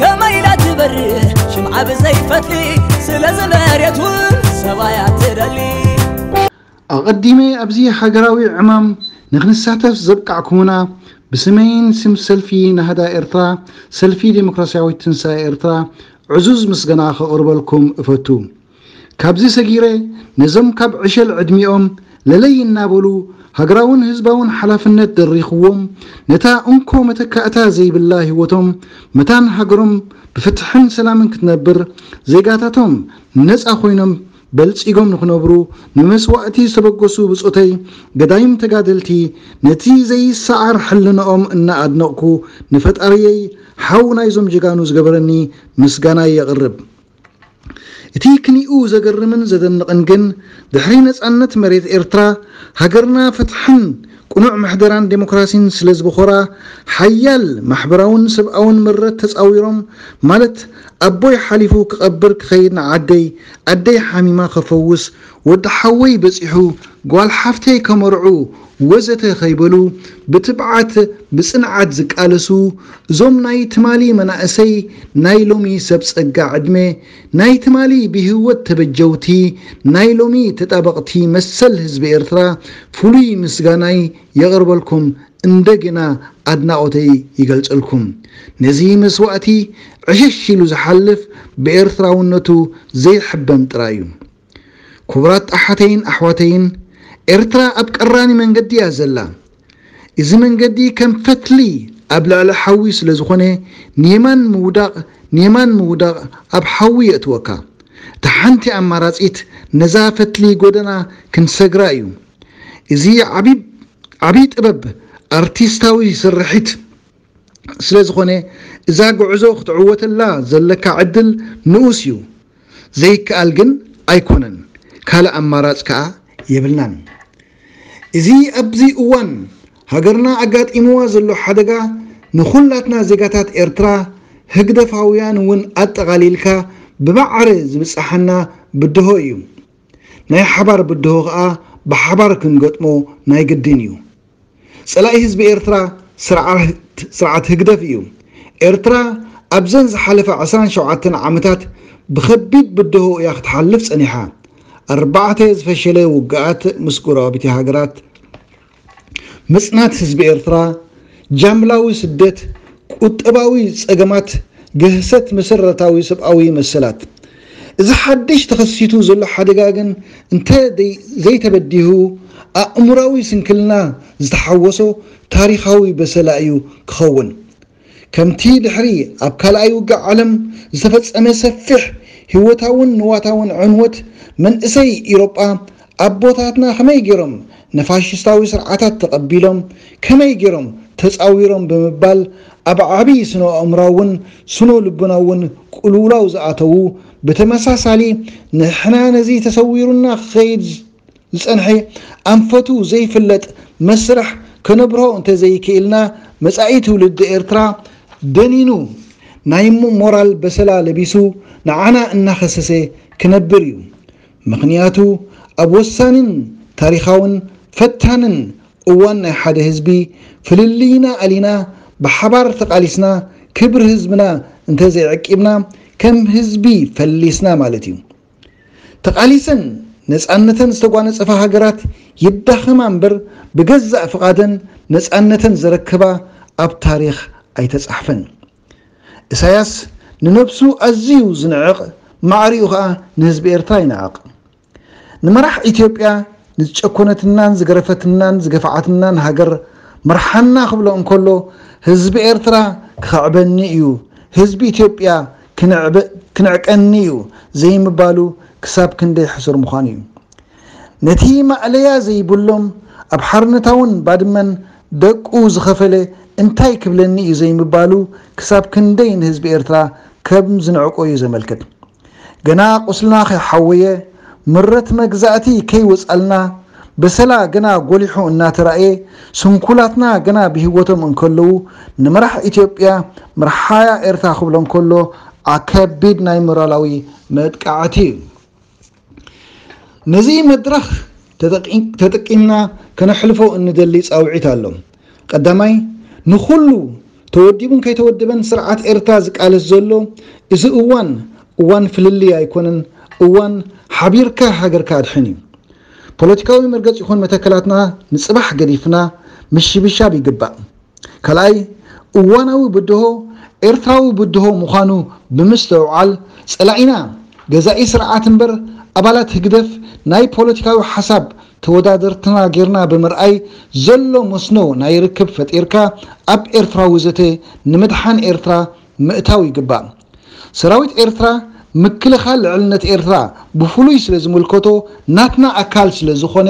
ከመይ ኢላ ትበርህ ሽምዓ ብዘይ ፈትሊ ስለዚ መሬት እውን ሰባይ ኣትደሊ ኣቐዲመ ኣብዚ ሃገራዊ ዕማም ንክንሳተፍ ዘብቃዕኩሙና ብስመይን ስም ሰልፊ ናህዳ ኤርትራ ሰልፊ ደሞክራስያዊት ትንሳኤ ኤርትራ ዕዙዝ ምስገና ከቕርበልኩም እፈቱ። ካብዚ ሰጊረ ነዞም ካብ ዕሸል ዕድሚኦም ለለይ እናበሉ ሃገራውን ህዝባውን ሓላፍነት ደሪኹዎም ነታ እንኮ መተካእታ ዘይብላ ህይወቶም መታን ሃገሮም ብፍትሕን ሰላምን ክትነብር ዜጋታቶም ነጻ ኮይኖም በልጺጎም ንኽነብሩ ንመስዋእቲ ዝተበገሱ ብጾተይ ገዳይም ተጋደልቲ ነቲ ዘይሰዓር ሕልንኦም እናኣድነቕኩ ንፈጣሪየይ ሓው ናይዞም ጀጋኑ ዝገበረኒ ምስጋናይ የቕርብ። እቲ ክሊኡ ዘገርምን ዘደንቕን ግን ድሕሪ ነጻነት መሬት ኤርትራ ሃገርና ፍትሕን ቅኑዕ ምሕደራን ደሞክራሲን ስለ ዝብኾራ ሓያል ማሕበራውን ሰብኣውን ምረት ተጻዊሮም ማለት ኣቦይ ሓሊፉ ክቐብር ክኸይድ ንዓደይ ኣደይ ሓሚማ ከፈውስ ወዲ ሓወይ በጺሑ ጓል ሓፍተይ ከመርዑ ወዘተ ከይበሉ ብትብዓት ብጽንዓት ዝቃለሱ እዞም ናይ ትማሊ መናእሰይ ናይ ሎሚ ሰብ ጸጋ ዕድመ ናይ ትማሊ ብሂወት ተበጀውቲ ናይ ሎሚ ተጣበቕቲ መሰል ህዝቢ ኤርትራ ፍሉይ ምስጋናይ የቕርበልኩም እንደገና ኣድናቖተይ ይገልጸልኩም ነዚ መስዋእቲ ዕሽሽ ኢሉ ዝሓልፍ ብኤርትራውነቱ ዘይሕበን ጥራዩ ኩቡራት ኣሓተይን ኣሕዋተይን ኤርትራ ኣብ ቀራኒ መንገዲ እያ ዘላ እዚ መንገዲ ከም ፈትሊ ኣብ ልዕሊ ሓዊ ስለ ዝኾነ ንየማን ምውዳቕ ንየማን ምውዳቕ ኣብ ሓዊ የእትወካ እታ ሓንቲ ኣማራጺት ነዛ ፈትሊ ጎደና ክንሰግራ እዩ እዚ ዓቢ ዓቢ ጥበብ ኣርቲስታዊ ስርሒት ስለዝኾነ እዛ ጉዕዞ ክትዕወተላ ዘለካ ዕድል ንኡስ እዩ። ዘይከኣል ግን ኣይኮነን፣ ካልእ ኣማራጽ ከኣ የብልናን። እዚ ኣብዚ እዋን ሃገርና ኣጋጢምዋ ዘሎ ሓደጋ ንኹላትና ዜጋታት ኤርትራ፣ ህግደፋውያን እውን ኣጠቓሊልካ ብማዕረ ዝብጸሓና ብድሆ እዩ። ናይ ሓባር ብድሆ ከኣ ብሓባር ክንገጥሞ ናይ ግድን እዩ። ጸላኢ ህዝቢ ኤርትራ ስርዓት ስርዓት ህግደፍ እዩ። ኤርትራ ኣብዘን ዝሓለፋ ዕስራን ሸውዓተን ዓመታት ብኸቢድ ብደሆ እያ ክትሓልፍ ጸኒሓ። ኣርባዕተ ዝፈሸለ ውግኣት ምስ ጎረባብቲ ሃገራት፣ ምጽናት ህዝቢ ኤርትራ፣ ጃምላዊ ስደት፣ ቁጠባዊ ጸገማት፣ ግህሰት መሰረታዊ ሰብኣዊ መሰላት፣ እዚ ሓድሽ ተኸሲቱ ዘሎ ሓደጋ ግን እንተ ዘይተበዲሁ ኣእምሮኣዊ ስንክልና ዝተሓወሶ ታሪኻዊ በሰላ እዩ ክኸውን። ከምቲ ድሕሪ ኣብ ካልኣይ ውግእ ዓለም ዝተፈጸመ ሰፊሕ ህይወታውን ንዋታውን ዕንወት መንእሰይ ኢሮጳ ኣቦታትና ከመይ ገይሮም ንፋሽስታዊ ስርዓታት ተቐቢሎም፣ ከመይ ገይሮም ተጻዊሮም ብምባል ኣብ ዓቢ ስነ-ኣእምሮኣውን ስነ-ልቦናውን ቅልውላው ዝኣተዉ፣ ብተመሳሳሊ ንሕና ነዚ ተሰዊሩና ክኸይድ ዝጸንሐ ኣንፈቱ ዘይፍለጥ መስርሕ ከነብርሆ እንተዘይክኢልና መጻኢ ትውልዲ ኤርትራ ደኒኑ ናይ ሞራል በሰላ ለቢሱ ንዓና እናኸሰሰ ክነብር እዩ። ምኽንያቱ ኣብ ወሳኒን ታሪኻውን ፈታንን እዋን ናይ ሓደ ህዝቢ ፍልልይና ኣሊና ብሓባር ተቓሊስና ክብሪ ህዝብና እንተዘይዐቂብና ከም ህዝቢ ፈሊስና ማለት እዩ። ተቓሊሰን ነፃነተን ዝተጓነፀፋ ሃገራት ይዳኸማ እምበር ብገዛእ ፍቓደን ነፃነተን ዘረከባ ኣብ ታሪኽ ኣይተፃሕፈን። እሳያስ ንነብሱ ኣዝዩ ዝንዕቕ ማዕሪኡ ከኣ ንህዝቢ ኤርትራ ይንዕቕ። ንመራሕ ኢትዮጵያ ንዝጨኮነትናን ዝገረፈትናን ዝገፍዓትናን ሃገር ምርሓና ክብሎ እንከሎ ህዝቢ ኤርትራ ክኽዕበኒ እዩ ህዝቢ ኢትዮጵያ ክንዕቀኒ እዩ ዘይምባሉ ክሳብ ክንደይ ሕሱር ምዃኑ እዩ። ነቲ ማእለያ ዘይብሎም ኣብ ሓርነታውን ባድመን ደቁ ዝኸፈለ እንታይ ክብለኒ እዩ ዘይምባሉ ክሳብ ክንደይ ንህዝቢ ኤርትራ ከም ዝንዕቆ እዩ ዘመልክት። ገና ቁስልና ከይሓወየ፣ ምረት መግዛእቲ ከይወጽኣልና፣ በሰላ ገና ጎሊሑ እናተራእየ፣ ስንኩላትና ገና ብሂወቶም እንከለዉ ንመራሕ ኢትዮጵያ ምርሓያ ኤርትራ ክብሎም ከሎ፣ ከቢድ ናይ ሞራላዊ መጥቃዕቲ እዩ። ነዚ መድረኽ ተጠቂምና ከነሕልፎ እንደሊ ጻውዒት ኣሎ። ቀዳማይ፣ ንኹሉ ተወዲቡን ከይተወደበን ስርዓት ኤርትራ ዝቃለስ ዘሎ እዚ እዋን፣ እዋን ፍልልይ ኣይኮነን፣ እዋን ሓቢርካ ሃገርካ ኣድሕን እዩ። ፖለቲካዊ መርገጺ ይኹን መተከላትና ንጽባሕ ገዲፍና ምሽብሻብ ይግባእ። ካልኣይ፣ እዋናዊ ብድሆ ኤርትራዊ ብድሆ ምዃኑ ብምስትውዓል፣ ጸላኢና ገዛኢ ስርዓት እምበር ኣባላት ህግደፍ ናይ ፖለቲካዊ ሓሳብ ተወዳደርትና ጌርና ብምርኣይ ዘሎ መስኖ ናይ ርክብ ፈጢርካ ኣብ ኤርትራዊ ዘተ ንምድሓን ኤርትራ ምእታው ይግባእ። ሰራዊት ኤርትራ ምክልኻል ልዕልነት ኤርትራ ብፍሉይ ስለዝምልከቶ ናትና ኣካል ስለዝኾነ፣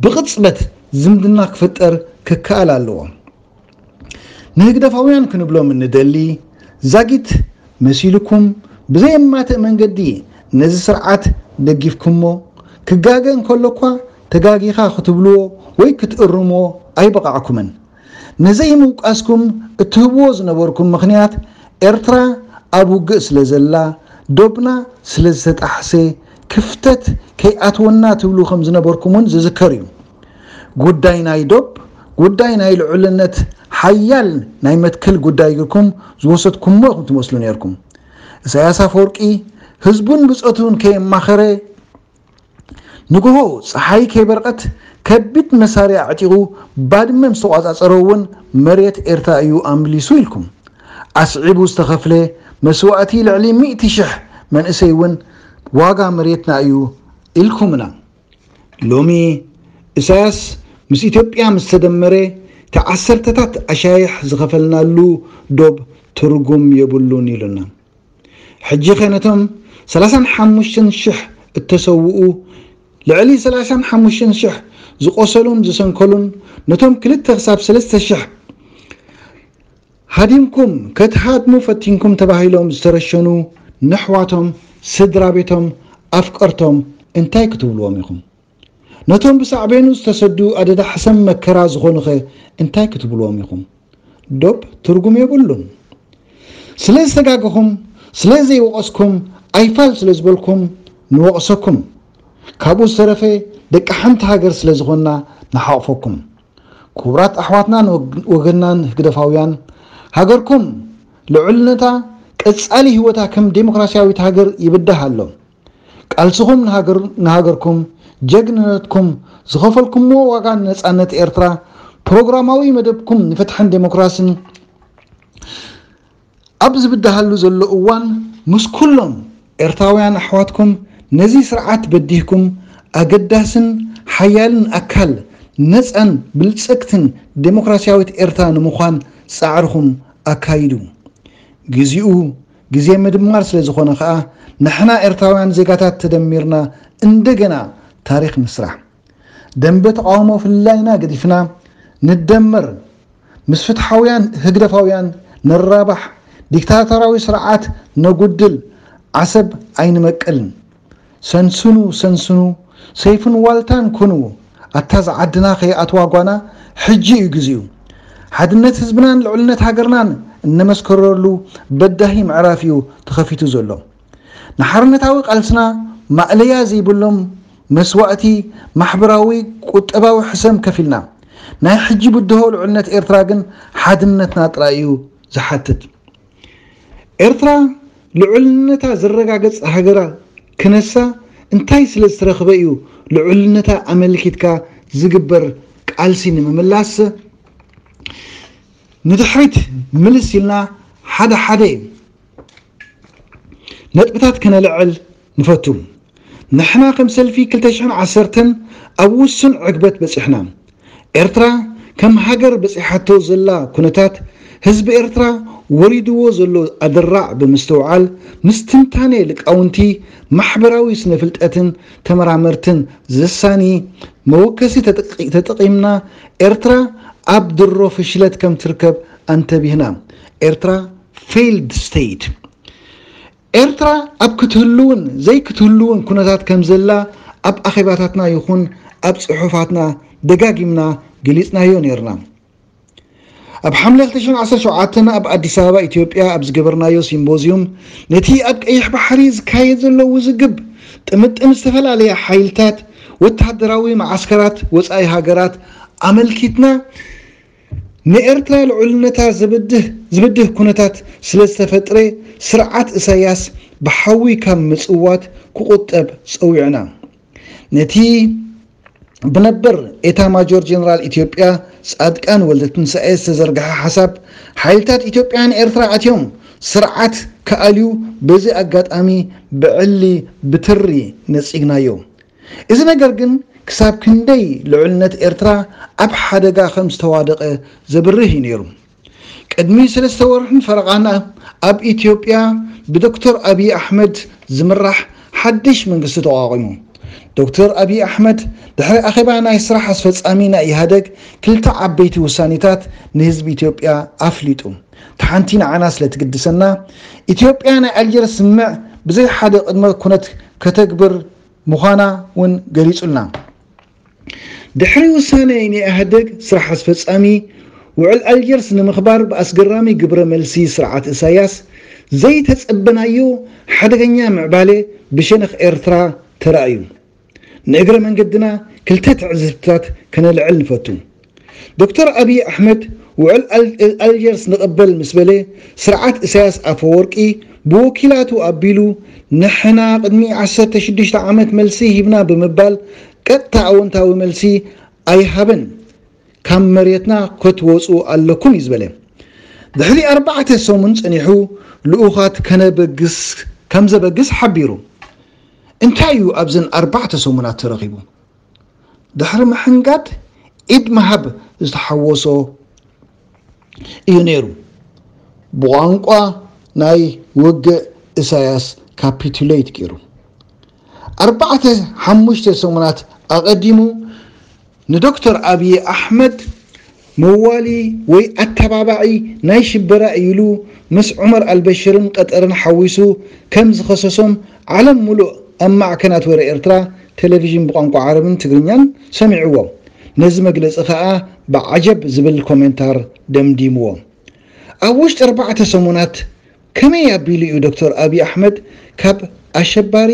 ብቕጽበት ዝምድና ክፍጠር ክከኣል ኣለዎ። ንህግደፋውያን ክንብሎም እንደሊ፣ ዛጊት መሲሉኩም ብዘየማትእ መንገዲ ነዚ ስርዓት ደጊፍኩሞ፣ ክጋገ እንከሎ'ኳ ተጋጊኻ ክትብልዎ ወይ ክትእርምዎ ኣይበቓዕኩምን። ንዘይምውቃስኩም እትህብዎ ዝነበርኩም ምኽንያት ኤርትራ ኣብ ውግእ ስለ ዘላ ዶብና ስለ ዝተጣሕሰ ክፍተት ከይኣትወና ትብሉ ከም ዝነበርኩም እውን ዝዝከር እዩ። ጉዳይ ናይ ዶብ ጉዳይ ናይ ልዑልነት ሓያል ናይ መትከል ጉዳይ ግርኩም ዝወሰድኩሞ ኢኹም ትመስሉ ኔርኩም። እሳያስ ኣፈወርቂ ህዝቡን ብጾቱን ከየማኸረ፣ ንግሆ ጸሓይ ከይበርቐት ከቢድ መሳርያ ኣዕጢቑ ባድመ ምስ ተቖጻጸሮ እውን መሬት ኤርትራ እዩ ኣምሊሱ ኢልኩም። ኣስዒቡ ዝተኸፍለ መስዋእቲ ልዕሊ ሚእቲ ሽሕ መንእሰይ እውን ዋጋ መሬትና እዩ ኢልኩምና። ሎሚ እሳያስ ምስ ኢትዮጵያ ምስ ተደመረ እቲ ዓሰርተታት ኣሻይሕ ዝኸፈልናሉ ዶብ ትርጉም የብሉን ኢሉና። ሕጂኸ ነቶም ሰላሳን ሓሙሽተን ሽሕ እተሰውኡ፣ ልዕሊ ሰላሳን ሓሙሽተን ሽሕ ዝቖሰሉን ዝሰንከሉን፣ ነቶም ክልተ ክሳብ ሰለስተ ሽሕ ሃዲምኩም ከትሃድሙ ፈቲንኩም ተባሂሎም ዝተረሸኑ ነሕዋቶም፣ ስድራቤቶም፣ ኣፍቀርቶም እንታይ ክትብልዎም ኢኹም? ነቶም ብሳዕቤኑ ዝተሰዱ ኣደዳ ሕሰም መከራ ዝኾኑኸ እንታይ ክትብሉዎም ኢኹም? ዶብ ትርጉም የብሉን። ስለ ዝተጋገኹም፣ ስለ ዘይወቐስኩም፣ ኣይፋል ስለ ዝበልኩም ንወቕሰኩም። ካብኡ ዝተረፈ ደቂ ሓንቲ ሃገር ስለ ዝኾንና ንሓቑፈኩም። ኩቡራት ኣሕዋትናን ወገንናን ህግደፋውያን፣ ሃገርኩም ልዑልነታ፣ ቀጻሊ ህይወታ ከም ደሞክራሲያዊት ሃገር ይብዳህ ኣሎ። ቃልስኹም ንሃገርኩም፣ ጀግንነትኩም፣ ዝኸፈልኩምዎ ዋጋ ንነጻነት ኤርትራ፣ ፕሮግራማዊ መደብኩም ንፍትሕን ደሞክራስን ኣብ ዝብድሃሉ ዘሎ እዋን፣ ምስ ኩሎም ኤርትራውያን ኣሕዋትኩም ነዚ ስርዓት በዲህኩም ኣገዳስን ሓያልን ኣካል ነጻን ብልጽግትን ደሞክራስያዊት ኤርትራ ንምዃን ጻዕርኹም ኣካይዱ። ግዜኡ ግዜ ምድማር ስለ ዝኾነ ከኣ ንሕና ኤርትራውያን ዜጋታት ተደሚርና እንደገና ታሪኽ ንስራሕ። ደምበ ተቓውሞ ፍልላይና ገዲፍና ንደመር ምስ ፍትሓውያን ህግደፋውያን ንራባሕ፣ ዲክታቶራዊ ስርዓት ነጉድል፣ ዓሰብ ኣይንመቅልን። ሰንስኑ ሰንስኑ ሰይፍን ዋልታን ኩኑ ኣታ ዝዓድና ከይኣትዋ ጓና ሕጂ እዩ ግዚኡ ሓድነት ህዝብናን ልዕልነት ሃገርናን እነመስከረሉ በዳሂ ምዕራፍ እዩ ተኸፊቱ ዘሎ ንሓርነታዊ ቃልስና ማእለያ ዘይብሎም መስዋእቲ ማሕበራዊ ቁጠባዊ ሕሰም ከፊልና ናይ ሕጂ ብድሆ ልዕልነት ኤርትራ ግን ሓድነትና ጥራይ እዩ ዝሓትት ኤርትራ ልዑልነታ ዝረጋገጽ ሃገራ ክነሳ እንታይ ስለ ዝተረኽበ እዩ ልዑልነታ ኣመልኪትካ ዝግበር ቃልሲ ንምምላስ ንድሕሪት ምልስ ኢልና ሓደ ሓደ ነጥብታት ከነልዕል ንፈቱ። ንሕና ከም ሰልፊ ክልተ ሽሕን ዓሰርተን ኣብ ውሱን ዕግበት በጺሕና። ኤርትራ ከም ሃገር በጺሓቶ ዘላ ኩነታት ህዝቢ ኤርትራ ወሪድዎ ዘሎ ኣደራዕ ብምስትውዓል ምስ ትንታኔ ልቃውንቲ ማሕበራዊ ስነፍልጠትን ተመራመርትን ዘሳኒ መወከሲ ተጠቂምና ኤርትራ ኣብ ድሮ ፍሽለት ከም ትርከብ ኣንተቢህና። ኤርትራ Failed State። ኤርትራ ኣብ ክትህሉውን ዘይክትህሉውን ኩነታት ከምዘላ ኣብ ኣኼባታትና ይኹን ኣብ ጽሑፋትና ደጋጊምና ገሊጽናዮ ኔርና። ኣብ ሓምለ ክልተ ሽሕን ዓሰርተ ሸውዓተን ኣብ ኣዲስ ኣበባ ኢትዮጵያ ኣብ ዝገበርናዮ ሲምቦዝዩም ነቲ ኣብ ቀይሕ ባሕሪ ዝካየድ ዘሎ ውዝግብ ጥምጥም ዝተፈላለያ ሓይልታት ወተሃደራዊ መዓስከራት ወጻኢ ሃገራት ኣመልኪትና ንኤርትራ ልዑልነታ ዝብድህ ዝብድህ ኩነታት ስለ ዝተፈጥረ ስርዓት እሳያስ ብሓዊ ካብ ምጽዋት ክቑጠብ ጸዊዕና። ነቲ ብነበር ኤታማጆር ጀነራል ኢትዮጵያ ጻድቃን ወልደትንሳኤ ዝተዘርግሐ ሓሳብ ሓይልታት ኢትዮጵያ ንኤርትራ ኣትዮም ስርዓት ክኣልዩ በዚ ኣጋጣሚ ብዕሊ ብትሪ ነጺግናዮ። እዚ ነገር ግን ክሳብ ክንደይ ልዑልነት ኤርትራ ኣብ ሓደጋ ከም ዝተዋደቐ ዘብርህ እዩ ነይሩ። ቅድሚ ሰለስተ ወርሕን ፈረቓን ኣብ ኢትዮጵያ ብዶክተር ኣብዪ ኣሕመድ ዝምራሕ ሓድሽ መንግስቲ ተቋቒሙ። ዶክተር ኣብዪ ኣሕመድ ድሕሪ ኣኼባ ናይ ስራሕ ኣስፈጻሚ ናይ ኢህኣደግ ክልተ ዓበይቲ ውሳኔታት ንህዝቢ ኢትዮጵያ ኣፍሊጡ። እታ ሓንቲ ንዓና ስለ ትግድሰና ኢትዮጵያ ናይ ኣልጀርስ ስምምዕ ብዘይ ሓደ ቅድመ ኩነት ከተግብር ምዃና ውን ገሊጹልና። ድሕሪ ውሳነ ናይ ኢህኣደግ ስራሕ ኣስፈጻሚ፣ ውዕል ኣልጀርስ ንምኽባር ብኣስገራሚ ግብረ መልሲ ስርዓት እሳያስ፣ ዘይተጸበናዮ ሓደገኛ ምዕባለ ብሸነኽ ኤርትራ ተራእዩ። ንእግረ መንገድና ክልተ ትዕዝብትታት ከነልዕል ንፈቱ። ዶክተር ኣብዪ ኣሕመድ ውዕል ኣልጀርስ ንቕበል ምስ በለ፣ ስርዓት እሳያስ ኣፈወርቂ ብወኪላቱ ኣቢሉ ንሕና ቅድሚ ዓሰርተ ሽዱሽተ ዓመት መልሲ ሂብና ብምባል ቀጥታ ኣወንታዊ መልሲ ኣይሃበን። ካብ መሬትና ከትወጹ ኣለኩም እዩ ዝበለ። ድሕሪ ኣርባዕተ ሰሙን ጸኒሑ ልኡኻት ከነበግስ ከምዘበግስ ሓቢሩ። እንታይ እዩ ኣብዘን ኣርባዕተ ሰሙናት ተረኺቡ? ድሕሪ ምሕንጋድ ኢድ ምሃብ ዝተሓወሶ እዩ ነይሩ። ብቋንቋ ናይ ውግእ እሳያስ ካፒቱለይት ገይሩ ኣርባዕተ ሓሙሽተ ሰሙናት ኣቐዲሙ ንዶክተር ኣብዪ ኣሕመድ መዋሊ ወይ ኣተባባዒ ናይ ሽበራ እዩ ኢሉ ምስ ዑመር ኣልበሽርን ቐጠርን ሓዊሱ ከም ዝኸሰሶም ዓለም ሙሉእ ኣብ ማዕከናት ወረ ኤርትራ ቴሌቪዥን ብቋንቋ ዓረብን ትግርኛን ሰሚዕዎ ነዚ መግለጺ ከኣ ብዓጀብ ዝብል ኮሜንታር ደምዲምዎ። ኣብ ውሽጢ ኣርባዕተ ሰሙናት ከመይ ኣቢሉ እዩ ዶክተር ኣብይ ኣሕመድ ካብ ኣሸባሪ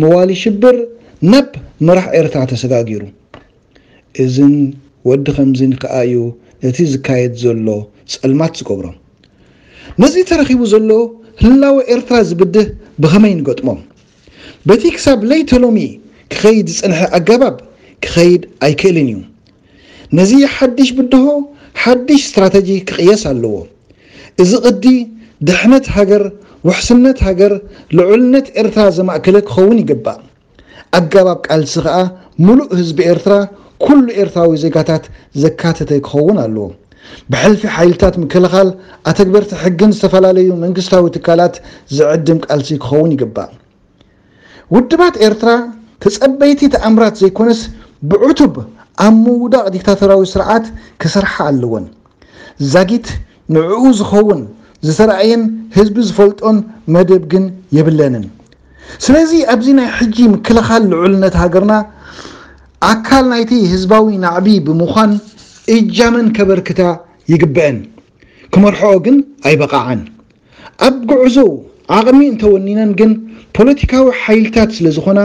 መዋሊ ሽብር ናብ መራሕ ኤርትራ ተሰጋጊሩ? እዝን ወዲ ከምዝን ከኣ እዩ ነቲ ዝካየድ ዘሎ ጸልማት ዝገብሮ። ነዚ ተረኺቡ ዘሎ ህላወ ኤርትራ ዝብድህ ብኸመይ ንገጥሞ? በቲ ክሳብ ለይተ ሎሚ ክኸይድ ዝጸንሐ ኣገባብ ክኸይድ ኣይክእልን እዩ። ነዚ ሓድሽ ብድሆ ሓድሽ ስትራተጂ ክቕየስ ኣለዎ። እዚ ቅዲ ድሕነት ሃገር፣ ውሕስነት ሃገር፣ ልዑልነት ኤርትራ ዘማእከለ ክኸውን ይግባእ። ኣጋባብ ቃልሲ ከኣ ሙሉእ ህዝቢ ኤርትራ ኩሉ ኤርትራዊ ዜጋታት ዘካተተ ክኸውን ኣለዎ። ብሕልፊ ሓይልታት ምክልኻል ኣተግበርቲ ሕግን ዝተፈላለዩ መንግስታዊ ትካላት ዝዕድም ቃልሲ ክኸውን ይግባእ። ውድባት ኤርትራ ተጸበይቲ ተኣምራት ዘይኮነስ ብዕቱብ ኣብ ምውዳቕ ዲክታቶራዊ ስርዓት ክሰርሓ ኣለወን። ዛጊት ንዕኡ ዝኸውን ዝተራእየን ህዝቢ ዝፈልጦን መደብ ግን የብለንን። ስለዚ ኣብዚ ናይ ሕጂ ምክልኻል ልዑልነት ሃገርና ኣካል ናይቲ ህዝባዊ ናዕቢ ብምዃን እጃመን ከበርክታ ይግበእን። ክመርሕኦ ግን ኣይበቓዓን። ኣብ ጉዕዞኡ ዓቕሚ እንተወኒነን ግን ፖለቲካዊ ሓይልታት ስለዝኾና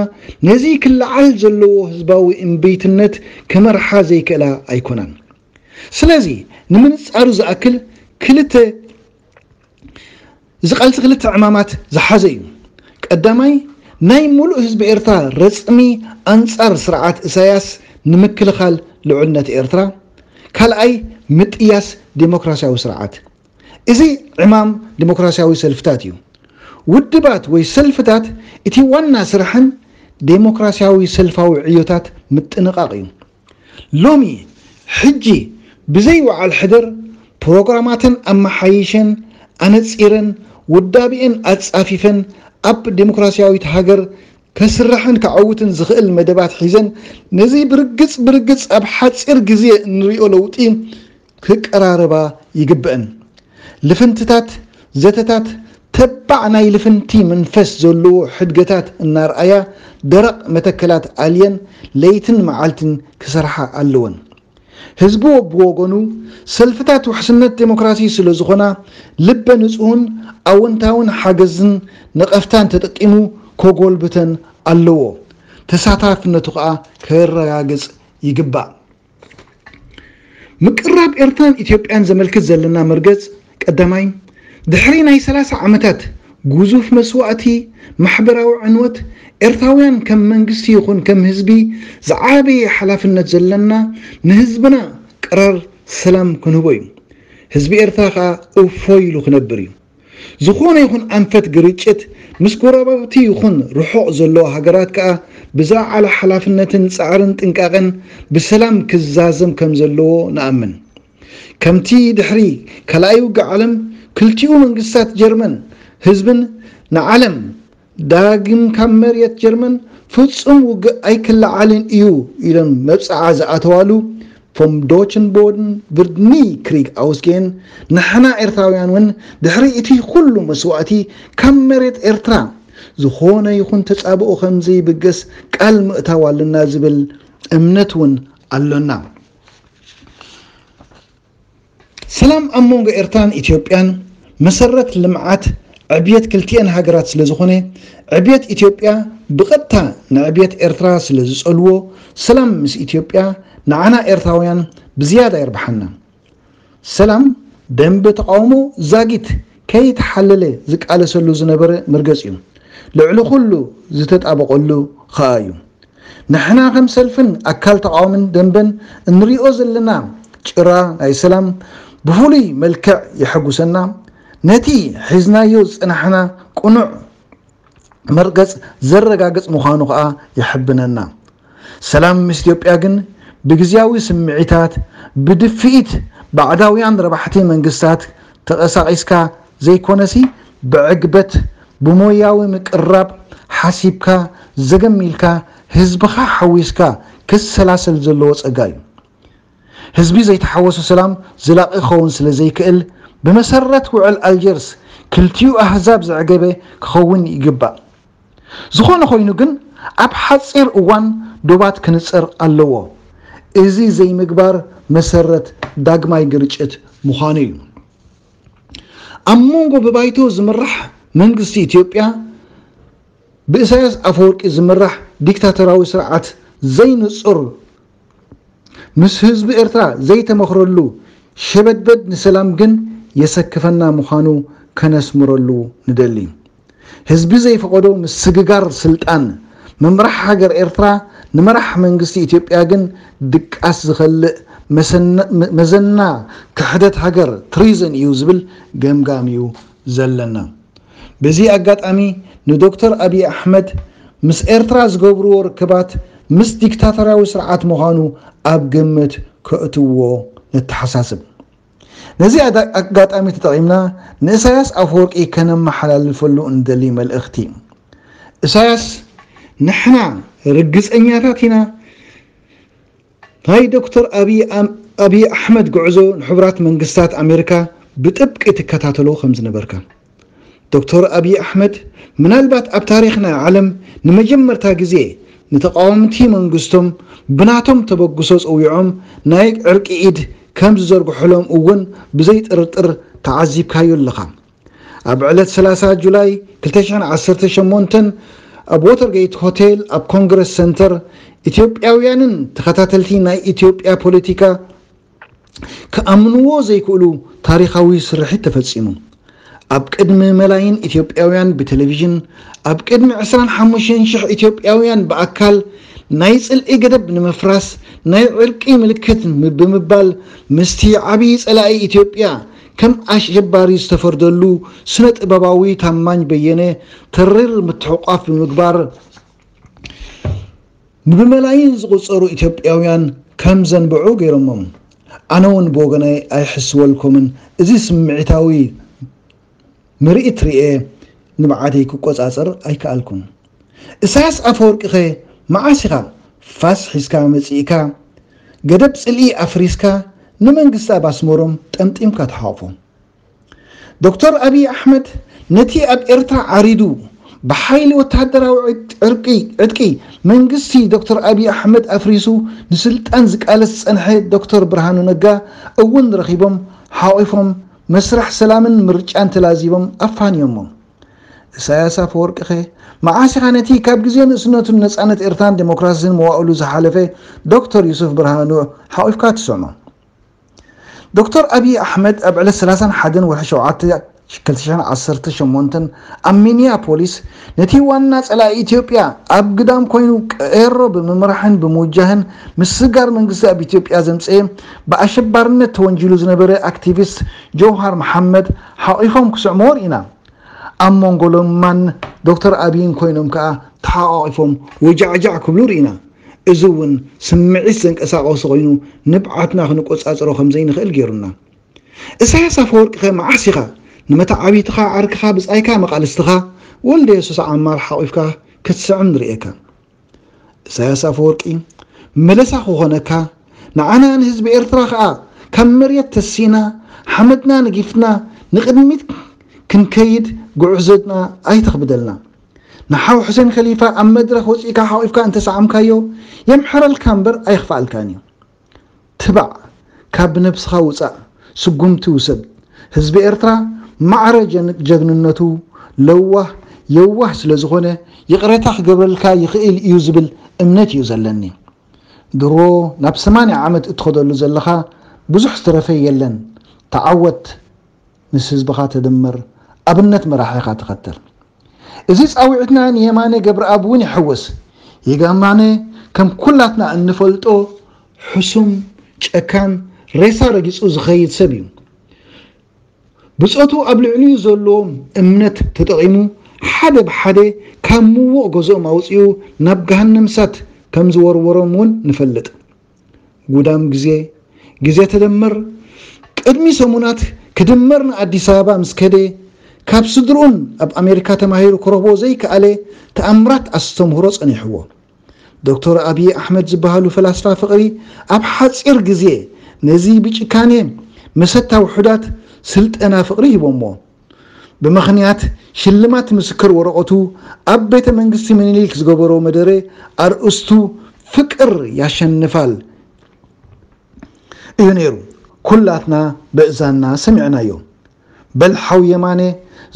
ነዚ ክለዓል ዘለዎ ህዝባዊ እምቢትነት ክመርሓ ዘይክእላ ኣይኮናን። ስለዚ ንምንጻሩ ዝኣክል ክልተ ዝቐልሲ ክልተ ዕማማት ዝሓዘ እዩ። ቀዳማይ ናይ ሙሉእ ህዝቢ ኤርትራ ረጽሚ ኣንጻር ስርዓት እሳያስ ንምክልኻል ልዑልነት ኤርትራ፣ ካልኣይ ምጥያስ ደሞክራሲያዊ ስርዓት። እዚ ዕማም ደሞክራሲያዊ ሰልፍታት እዩ። ውድባት ወይ ሰልፍታት እቲ ዋና ስርሐን ደሞክራሲያዊ ሰልፋዊ ዕዮታት ምጥንቓቕ እዩ። ሎሚ ሕጂ ብዘይ ውዓል ሕድር ፕሮግራማተን ኣመሓይሸን ኣነጺረን ውዳቤኤን ኣጻፊፈን ኣብ ደሞክራሲያዊት ሃገር ከስርሕን ከዐውትን ዝኽእል መደባት ሒዘን ነዚ ብርግጽ ብርግጽ ኣብ ሓጺር ግዜ እንሪኦ ለውጢ ክቀራረባ ይግበእን። ልፍንትታት ዘተታት ተባዕ ናይ ልፍንቲ መንፈስ ዘለዎ ሕድገታት እናርኣያ ደረቕ መተከላት ኣልየን ለይትን መዓልትን ክሰርሓ ኣለወን። ህዝቢ ብወገኑ ሰልፍታት ውሕስነት ደሞክራሲ ስለዝኾና ልበ ንጹህን ኣወንታዊን ሓገዝን ነቐፍታን ተጠቂሙ ከጎልብተን ኣለዎ። ተሳታፍነቱ ከኣ ከረጋግጽ ይግባእ። ምቅርራብ ኤርትራን ኢትዮጵያን ዘመልክት ዘለና መርገጽ ቀዳማይ፣ ድሕሪ ናይ ሰላሳ ዓመታት ግዙፍ መስዋእቲ፣ ማሕበራዊ ዕንወት፣ ኤርትራውያን ከም መንግስቲ ይኹን ከም ህዝቢ ዝዓበየ ሓላፍነት ዘለና ንህዝብና ቅራር ሰላም ክንህቦ እዩ። ህዝቢ ኤርትራ ከኣ እፎይ ኢሉ ክነብር እዩ። ዝኾነ ይኹን ኣንፈት ግርጭት ምስ ጎረባብቲ ይኹን ርሑቕ ዘለዎ ሃገራት ከኣ ብዝለዓለ ሓላፍነትን ጻዕርን ጥንቃቐን ብሰላም ክዛዘም ከምዘለዎ ንኣምን። ከምቲ ድሕሪ ካልኣይ ውግእ ዓለም ክልቲኡ መንግስታት ጀርመን ህዝብን ንዓለም ዳግም ካብ መርየት ጀርመን ፍጹም ውግእ ኣይክለዓልን እዩ ኢለን መብጽዓ ዝኣተዋሉ ቮም ዶችን ቦድን ቭርድ ኒ ክሪግ ኣውስጌን ንሕና ኤርትራውያን ውን ድሕሪ እቲ ኩሉ መስዋእቲ ካብ መሬት ኤርትራ ዝኾነ ይኹን ተጻብኦ ከምዘይብገስ ቃል ምእታው ኣለና ዝብል እምነት ውን ኣሎና። ሰላም ኣብ መንጎ ኤርትራን ኢትዮጵያን መሰረት ልምዓት ዕብየት ክልቲኤን ሃገራት ስለዝኾነ ዕብየት ኢትዮጵያ ብቐጥታ ንዕብየት ኤርትራ ስለዝጸልዎ ሰላም ምስ ኢትዮጵያ ንዓና ኤርትራውያን ብዝያዳ የርብሓና። ሰላም ደምበ ተቓውሞ ዛጊት ከይተሓለለ ዝቃለሰሉ ዝነበረ መርገጺ'ዩ። ልዕሊ ኩሉ ዝተጣበቐሉ ከኣ'ዩ። ንሕና ከም ሰልፍን ኣካል ተቓዋምን ደንበን እንሪኦ ዘለና ጭራ ናይ ሰላም ብፍሉይ መልክዕ የሐጉሰና፣ ነቲ ሒዝናዮ ዝጸናሕና ቅኑዕ መርገጽ ዘረጋግጽ ምዃኑ ከኣ የሕብነና። ሰላም ምስ ኢትዮጵያ ግን ብግዝያዊ ስምዒታት፣ ብድፍኢት ባዕዳውያን ረባሕቲ መንግስታት ተቐሳቒስካ ዘይኮነሲ ብዕግበት ብሞያዊ ምቅርራብ ሓሲብካ ዘገምኢልካ ህዝብኻ ሓዊስካ ክሰላሰል ዘለዎ ጸጋ እዩ። ህዝቢ ዘይተሓወሶ ሰላም ዘላቂ ክኸውን ስለ ዘይክእል ብመሰረት ውዕል ኣልጀርስ ክልቲኡ ኣህዛብ ዘዕገበ ክኸውን ይግባእ። ዝኾነ ኮይኑ ግን ኣብ ሓጺር እዋን ዶባት ክንጸር ኣለዎ። እዚ ዘይምግባር መሰረት ዳግማይ ግርጭት ምዃኑ እዩ። ኣብ መንጎ ብባይቶ ዝምራሕ መንግስቲ ኢትዮጵያ ብእሳያስ ኣፈወርቂ ዝምራሕ ዲክታተራዊ ስርዓት ዘይንጹር ምስ ህዝቢ ኤርትራ ዘይተመኽረሉ ሸበድበድ ንሰላም ግን የሰክፈና ምዃኑ ከነስምረሉ ንደሊ። ህዝቢ ዘይፈቐዶ ምስግጋር ስልጣን ምምራሕ ሃገር ኤርትራ ንመራሕ መንግስቲ ኢትዮጵያ ግን ድቃስ ዝኸልእ መዘና ክሕደት ሃገር፣ Treason፣ እዩ ዝብል ገምጋም እዩ ዘለና። በዚ ኣጋጣሚ ንዶክተር ኣቢይ ኣሕመድ ምስ ኤርትራ ዝገብርዎ ርክባት ምስ ዲክታቶርያዊ ስርዓት ምዃኑ ኣብ ግምት ከእትውዎ ነተሓሳስብ። ነዚ ኣጋጣሚ ተጠቒምና ንእሳያስ ኣፈወርቂ ከነመሓላልፈሉ እንደሊ መልእኽቲ፣ እሳያስ ንሕና ርግጸኛታት ኢና ናይ ዶክተር ኣብይ ኣሕመድ ጉዕዞ ንሕቡራት መንግስታት ኣሜሪካ ብጥብቂ ትከታተሎ ከምዝነበርካ፣ ዶክተር ኣብዪ ኣሕመድ ምናልባት ኣብ ታሪኽ ናይ ዓለም ንመጀመርታ ግዜ ንተቓወምቲ መንግስቶም ብናቶም ተበግሶ ጸዊዖም ናይ ዕርቂ ኢድ ከም ዝዘርግሑሎም እውን ብዘይጥርጥር ተዓዚብካዮ ኣለኻ። ኣብ ዕለት ሰላሳ ጁላይ ክልተ ሽሕን ዓሰርተ ሸሞንተን ኣብ ዎተርገይት ሆቴል ኣብ ኮንግረስ ሰንተር ኢትዮጵያውያንን ተኸታተልቲ ናይ ኢትዮጵያ ፖለቲካ ክኣምንዎ ዘይክእሉ ታሪኻዊ ስርሒት ተፈጺሙ። ኣብ ቅድሚ መላይን ኢትዮጵያውያን ብቴሌቪዥን፣ ኣብ ቅድሚ ዕስራን ሓሙሽተን ሽሕ ኢትዮጵያውያን ብኣካል፣ ናይ ጽልኢ ገደብ ንምፍራስ፣ ናይ ዕርቂ ምልክት ብምባል ምስቲ ዓብዪ ጸላኢ ኢትዮጵያ ከም ኣሸባሪ ዝተፈርደሉ ስነ-ጥበባዊ ታማኝ በየነ ተሪር ምትሕቑቋፍ ብምግባር፣ ንብመላይን ዝቑጸሩ ኢትዮጵያውያን ከም ዘንብዑ ገይሮሞም። ኣነ ውን ብወገነይ ኣይሕስወልኩምን፣ እዚ ስምዒታዊ ምርኢት ርእየ ንብዓተይ ክቆጻጸር ኣይከኣልኩን። እሳያስ ኣፈወርቂኸ መዓስ ኢኻ ፋስ ሒዝካ መጺእካ ገደብ ጽልኢ ኣፍሪስካ ንመንግስቲ ኣብ ኣስመሮም ጠምጢምካ ትሓቑፎ? ዶክተር ኣብይ ኣሕመድ ነቲ ኣብ ኤርትራ ዓሪዱ ብሓይሊ ወተሃደራዊ ዕጥቂ መንግስቲ ዶክተር ኣብይ ኣሕመድ ኣፍሪሱ ንስልጣን ዝቃለስ ዝጸንሐ ዶክተር ብርሃኑ ነጋ እውን ረኺቦም ሓቚፎም መስርሕ ሰላምን ምርጫን ተላዚቦም ኣፋንዮሞም። እሳያስ ኣፈወርቂኸ መዓስ ኢኻ ነቲ ካብ ግዜ ንእስነቱ ንነጻነት ኤርትራን ደሞክራሲን መዋእሉ ዝሓለፈ ዶክተር ዩሱፍ ብርሃኑ ሓቚፍካ ትስዕሞ? ዶክተር ኣብዪ ኣሕመድ ኣብ ዕለት ሰላሳን ሓደን ወርሒ ሸውዓተ ክልተ ሽሕን ዓሰርተ ሸሞንተን ኣብ ሚኒያፖሊስ ነቲ ዋና ጸላኢ ኢትዮጵያ ኣብ ግዳም ኮይኑ ቀሮ ብምምራሕን ብምውጃህን ምስስጋር መንግስቲ ኣብ ኢትዮጵያ ዘምጸኤ ብኣሸባርነት ተወንጂሉ ዝነበረ ኣክቲቪስት ጀውሃር መሓመድ ሓቚፎም ክስዕምዎ ርኢና። ኣብ መንጎ ለማን ዶክተር ኣብይን ኮይኖም ከኣ ተሓቛቒፎም ወጃዕጃዕ ክብሉ ርኢና። እዚ እውን ስምዒት ዘንቀሳቐሱ ኮይኑ ንብዓትና ክንቆጻጸሮ ከም ዘይንኽእል ገይሩና። እሳያስ ኣፈወርቂኸ መዓስ ኢኻ ንመተዓብይትኻ ዓርክኻ ብጻይካ መቓልስትኻ ወልደየሱስ ዓማር ሓቚፍካ ክትስዕም ንርእየካ። እሳያስ ኣፈወርቂ መለሳ ክኾነካ ንዓና ንህዝቢ ኤርትራ ከኣ ካብ መሬት ተሲእና ሓመድና ነጊፍና ንቕድሚት ክንከይድ ጉዕዞና ኣይተኽብደልና። ንሓው ሑሴን ከሊፋ ኣብ መድረኽ ወጺእካ ሓቂፍካ እንተሰዓምካዮ የምሕረልካ እምበር ኣየኽፍኣልካን እዩ። ትባዕ ካብ ብነብስኻ ውጻእ ስጉምቲ ውሰድ። ህዝቢ ኤርትራ ማዕረ ጀግንነቱ ለዋህ የዋህ ስለ ዝኾነ ይቕሬታ ክገብረልካ ይኽእል እዩ ዝብል እምነት እዩ ዘለኒ። ድሮ ናብ ሰማንያ ዓመት እትኸደሉ ዘለኻ ብዙሕ ዝተረፈ የለን። ተዓወት ምስ ህዝብኻ ተደመር ኣብነት መራሒኻ ተኸተል። እዚ ጻዊዕትና ንየማነ ገብረኣብ እውን ይሕውስ። ይጋማነ ከም ኩላትና እንፈልጦ ሕሱም፣ ጨካን፣ ሬሳ ረጊጹ ዝኸይድ ሰብ እዩ። ብጾቱ ኣብ ልዕሊኡ ዘለዎም እምነት ተጠቒሙ ሓደ ብሓደ ካብ ምዉቕ ገዝኦም ኣውጺኡ ናብ ገሃነምሳት ከም ዝወርወሮም እውን ንፈልጥ። ጉዳም ግዜ፣ ግዜ ተደመር፣ ቅድሚ ሰሙናት ክድመር ንኣዲስ ኣበባ ምስ ከደ፣ ካብ ስድርኡን ኣብ ኣሜሪካ ተማሂሩ ክረኽቦ ዘይከኣለ ተኣምራት ኣስተምህሮ ጸኒሕዎ። ዶክተር ኣብዪ ኣሕመድ ዝበሃሉ ፈላስፋ ፍቕሪ ኣብ ሓጺር ግዜ ነዚ ብጭካኔ መሰታ ውሑዳት ስልጠና ፍቕሪ ሂቦሞ። ብምኽንያት ሽልማት ምስክር ወረቐቱ ኣብ ቤተ መንግስቲ ምኒልክ ዝገበሮ መደረ ኣርእስቱ ፍቅር ያሸንፋል እዩ ነይሩ። ኩላትና በእዛንና ሰሚዕናዮ። በል ሓው የማነ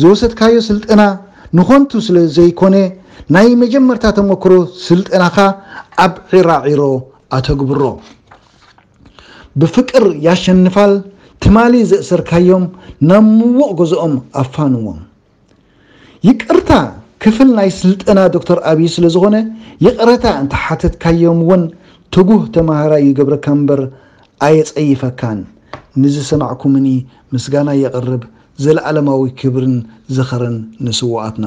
ዝወሰድካዮ ስልጠና ንኾንቱ ስለ ዘይኮነ ናይ መጀመርታ ተመክሮ ስልጠናኻ ኣብ ዒራዒሮ ኣተግብሮ። ብፍቅር ያሸንፋል ትማሊ ዘእሰርካዮም ናብ ምውቕ ገዝኦም ኣፋንዎም። ይቅርታ ክፍል ናይ ስልጠና ዶክተር ኣብይ ስለዝኾነ ይቅረታ እንተሓተትካዮም እውን ትጉህ ተማሃራይ ይገብረካ እምበር ኣየፀይፈካን ንዝሰማዕኩምኒ ምስጋናይ የቅርብ ዘለኣለማዊ ክብርን ዝኽርን ንስውኣትና።